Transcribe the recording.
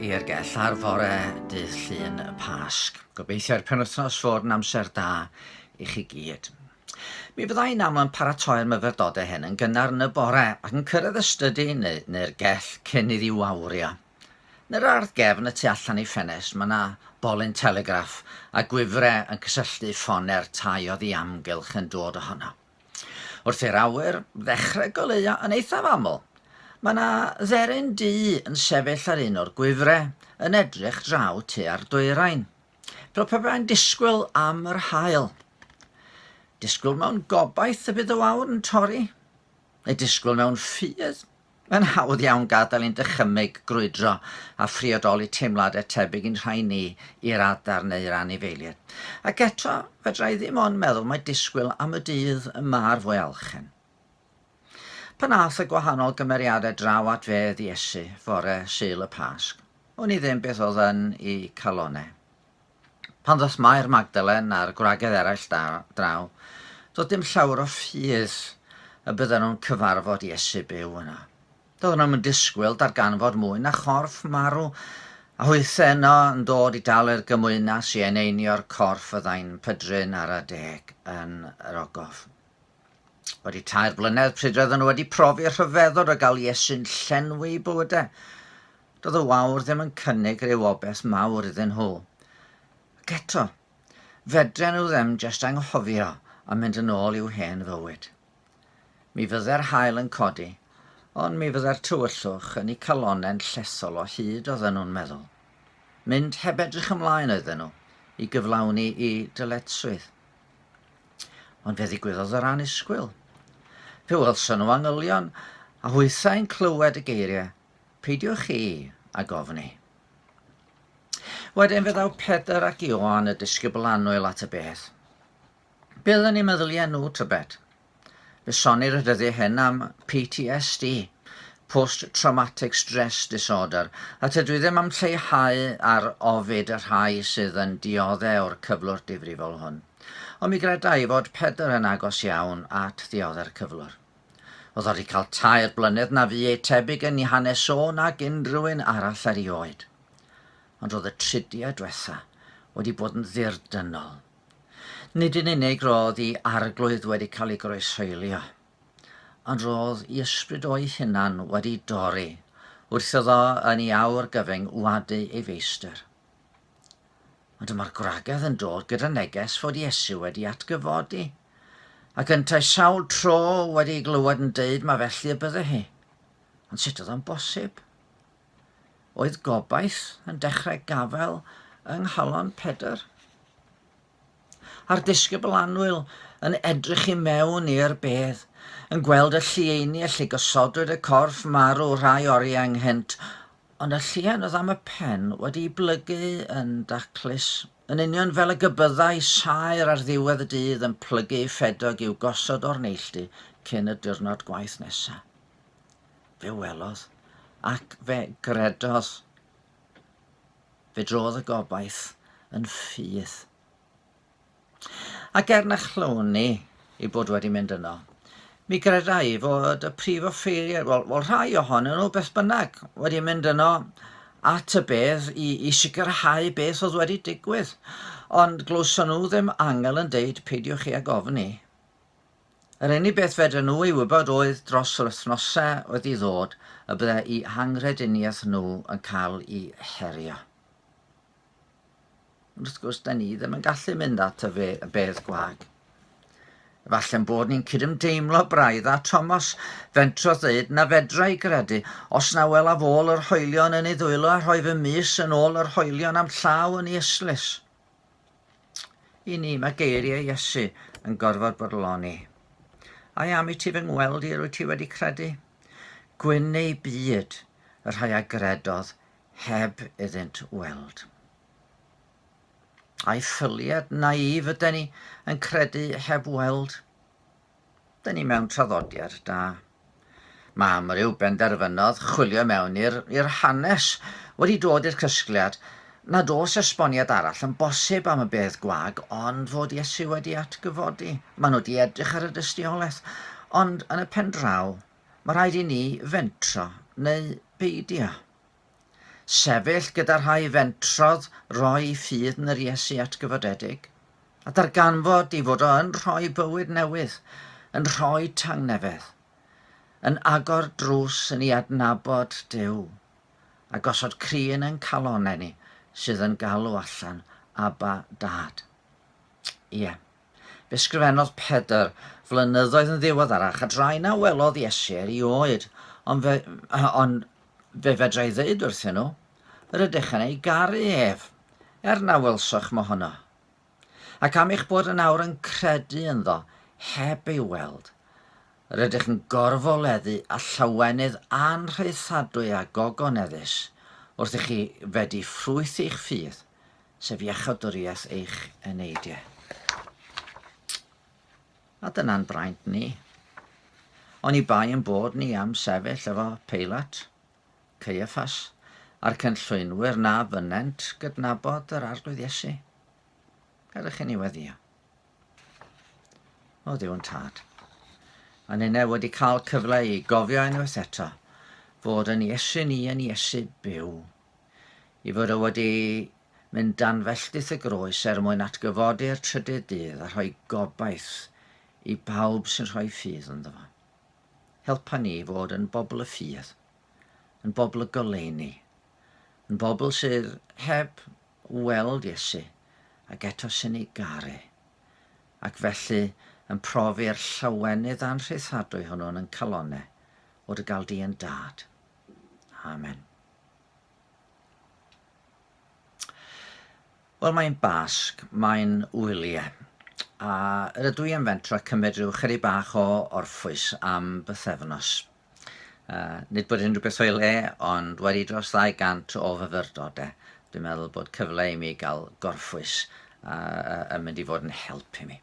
i'r gell ar fore dydd Llun y Pasg. Gobeithiai'r penwythnos fod yn amser da i chi gyd. Mi fydda i'n aml yn paratoi'r myfyrdodau hyn yn gynnar yn y bore ac yn cyrraedd y stydi neu, neu'r gell cyn iddi wawrio. Yn yr ardd gefn y tu allan i ffenest mae yna bolyn telegraff a gwifre yn cysylltu ffone'r tai oddi amgylch yn dod ohono. Wrth i'r awyr ddechrau goleuo yn eithaf aml, mae yna dderyn du yn sefyll ar un o'r gwifre yn edrych draw tua'r dwyrain. Fel pe bai'n disgwyl am yr haul. Disgwyl mewn gobaith y bydd y wawr yn torri, neu disgwyl mewn ffydd Mae'n hawdd iawn gadael i'n dychymyg grwydro a phriodoli teimladau tebyg i'n rhai ni i'r adar neu'r anifeiliaid. Ac eto, fedra i ddim ond meddwl mai disgwyl am y dydd y mae'r fwyalchen. Pan ath y gwahanol gymeriadau draw at fedd Iesu fore Sul y Pasg, wn i ddim beth oedd yn 'u calonnau. Pan ddaeth Mair Magdalen a'r gwragedd eraill draw, doedd dim llawer o ffydd y bydden nhw'n cyfarfod Iesu byw yno. Doedden nhw'm yn disgwyl darganfod mwy na chorff marw, a hwythau yno yn dod i dalu'r gymwynas i eneinio'r corff fyddai'n pydru'n ara deg yn yr ogof. Wedi tair blynedd pryd roedden nhw wedi profi rhyfeddod o gael Iesu'n llenwi bywydau, Doedd y wawr ddim yn cynnig rhyw obeth mawr iddyn nhw. Ac eto, fedren nhw ddim jest anghofio a mynd yn ôl i'w hen fywyd. Mi fydde'r haul yn codi, ond mi fydde'r tywyllwch yn eu calonnau'n llesol o hyd oedden nhw'n meddwl. Mynd heb edrych ymlaen oedden nhw i gyflawni i dyletswydd. Ond fe ddigwyddodd yr anusgwyl. Fe welson nhw angylion, a hwythau'n clywed y geiriau Peidiwch chi a gofni. Wedyn fe ddaw Pedr ac Ioan y disgybl annwyl at y beth. Bydd yn ei meddyliau nhw tybed. Fe sonir y dyddiau hyn am PTSD, Post-Traumatic Stress Disorder, a tydw i ddim am lleihau ar ofid y rhai sydd yn diodde o'r cyflwr difrifol hwn. Ond mi gredai fod Pedr yn agos iawn at ddiodde'r cyflwr. Oedd o 'di cael tair blynedd na fu ei tebyg yn ei hanes o nag unrhywun arall erioed. Ond roedd y tridiau dwetha wedi bod yn ddirdynnol. Nid yn unig roedd i arglwydd wedi cael ei groeshoelio, ond roedd i ysbryd o'i hunan wedi dorri wrth iddo yn ei awr gyfyng wadu ei feistr. Ond dyma'r gwragedd yn dod gyda neges fod Iesu wedi atgyfodi, ac yntau sawl tro wedi ei glywed yn deud mae felly y bydde hi. Ond sut oedd o'n bosib? Oedd gobaith yn dechrau gafel yng nghalon Pedr? a'r disgybl annwyl yn edrych i mewn i'r bedd, yn gweld y llieini y lle gosodwyd y corff marw rhai oriau ynghynt, ond y llien oedd am y pen wedi'i blygu yn daclus, yn union fel y gybyddai saer ar ddiwedd y dydd yn plygu ei ffedog i'w gosod o'r neilltu cyn y diwrnod gwaith nesaf. Fe welodd, ac fe gredodd, Fe drodd y gobaith yn ffydd. Ac er na chlyw'n ni ei bod wedi mynd yno, mi gredai fod y prif offeiriad, wel, wel rhai ohonyn nhw beth bynnag, wedi mynd yno at y bedd i, i sicrhau beth oedd wedi digwydd. Ond glywson nhw ddim angel yn deud peidiwch chi ag ofni. Yr unig beth fedren nhw ei wybod oedd dros yr wythnosau oedd i ddod y byddai'u hanghrediniaeth nhw yn cael ei herio. Ond wrth gwrs, da ni ddim yn gallu mynd at y fe, y bedd gwag. Efallai'n bod ni'n cydymdeimlo braidd a Thomas fentro ddeud na fedra i gredu os na welaf ôl yr hoelion yn ei ddwylo a rhoi fy mis yn ôl yr hoelion am llaw yn ei eslis. I ni, mae geiriau Iesu yn gorfod bodloni. I am i ti fy ngweld i, rwy ti wedi credu? Gwyn neu byd, y rhai a gredodd heb iddynt weld. A'i ffyliad naif yden ni yn credu heb weld. Da ni mewn traddodiad da. Mae amryw benderfynodd chwilio mewn i'r hanes wedi dod i'r cysgliad nad oes esboniad arall yn bosib am y bedd gwag ond fod Iesu wedi atgyfodi. Maen nhw wedi edrych ar y dystiolaeth, ond yn y pen draw, mae rhaid i ni fentro neu beidio. Sefyll gyda rhai fentrodd roi ffydd yn yr Iesu atgyfodedig, a darganfod ei fod o yn rhoi bywyd newydd, yn rhoi tangnefedd, yn agor drws yn i adnabod Duw, a gosod crin yn calonau ni sydd yn galw allan, Abba, Dad. Ie. Fe sgrifennodd Pedr, Flynyddoedd yn ddiweddarach, a drai na welodd Iesu er i oed, ond fe, on, fe fedrai ddeud wrthyn nhw, Rydych yn ei garu ef, er na welsoch mohono. Ac am eich bod yn awr yn credu ynddo, heb ei weld, rydych yn gorfoleddu a llawenydd anrhaethadwy a gogoneddus wrth i chi fedi ffrwyth eich ffydd, sef iachawdwriaeth eich eneidiau. A dyna'n braint ni. Ond i bai yn bod ni am sefyll efo Peilat, Caiaffas, a'r cynllwynwyr na fynent gydnabod yr Arglwydd Iesu. Gadwch chi ni weddio. O Dduw yn tad. A nynau wedi cael cyfle i gofio unwaith eto fod yn Iesu ni yn Iesu byw i fod o wedi mynd dan felltith y groes er mwyn atgyfodi'r trydydd dydd a rhoi gobaith i bawb sy'n rhoi ffydd ynddo fo. Helpa ni i fod yn bobl y ffydd, yn bobl y goleuni, yn bobl sydd heb weld Iesu ac eto sy'n ei garu, ac felly yn profi'r llawenydd anrhyddhadwy hwnnw'n yn calonau o dy gael di yn dad. Amen. Wel, mae'n Basg, mae'n wyliau. A rydw i am fentro cymryd rhyw chyri bach o orffwys am bythefnos. Uh, nid bod unrhyw beth o'i le, ond wedi dros 200 o fyfyrdodau, dwi'n meddwl bod cyfle i mi gael gorffwys uh, yn mynd i fod yn help i mi.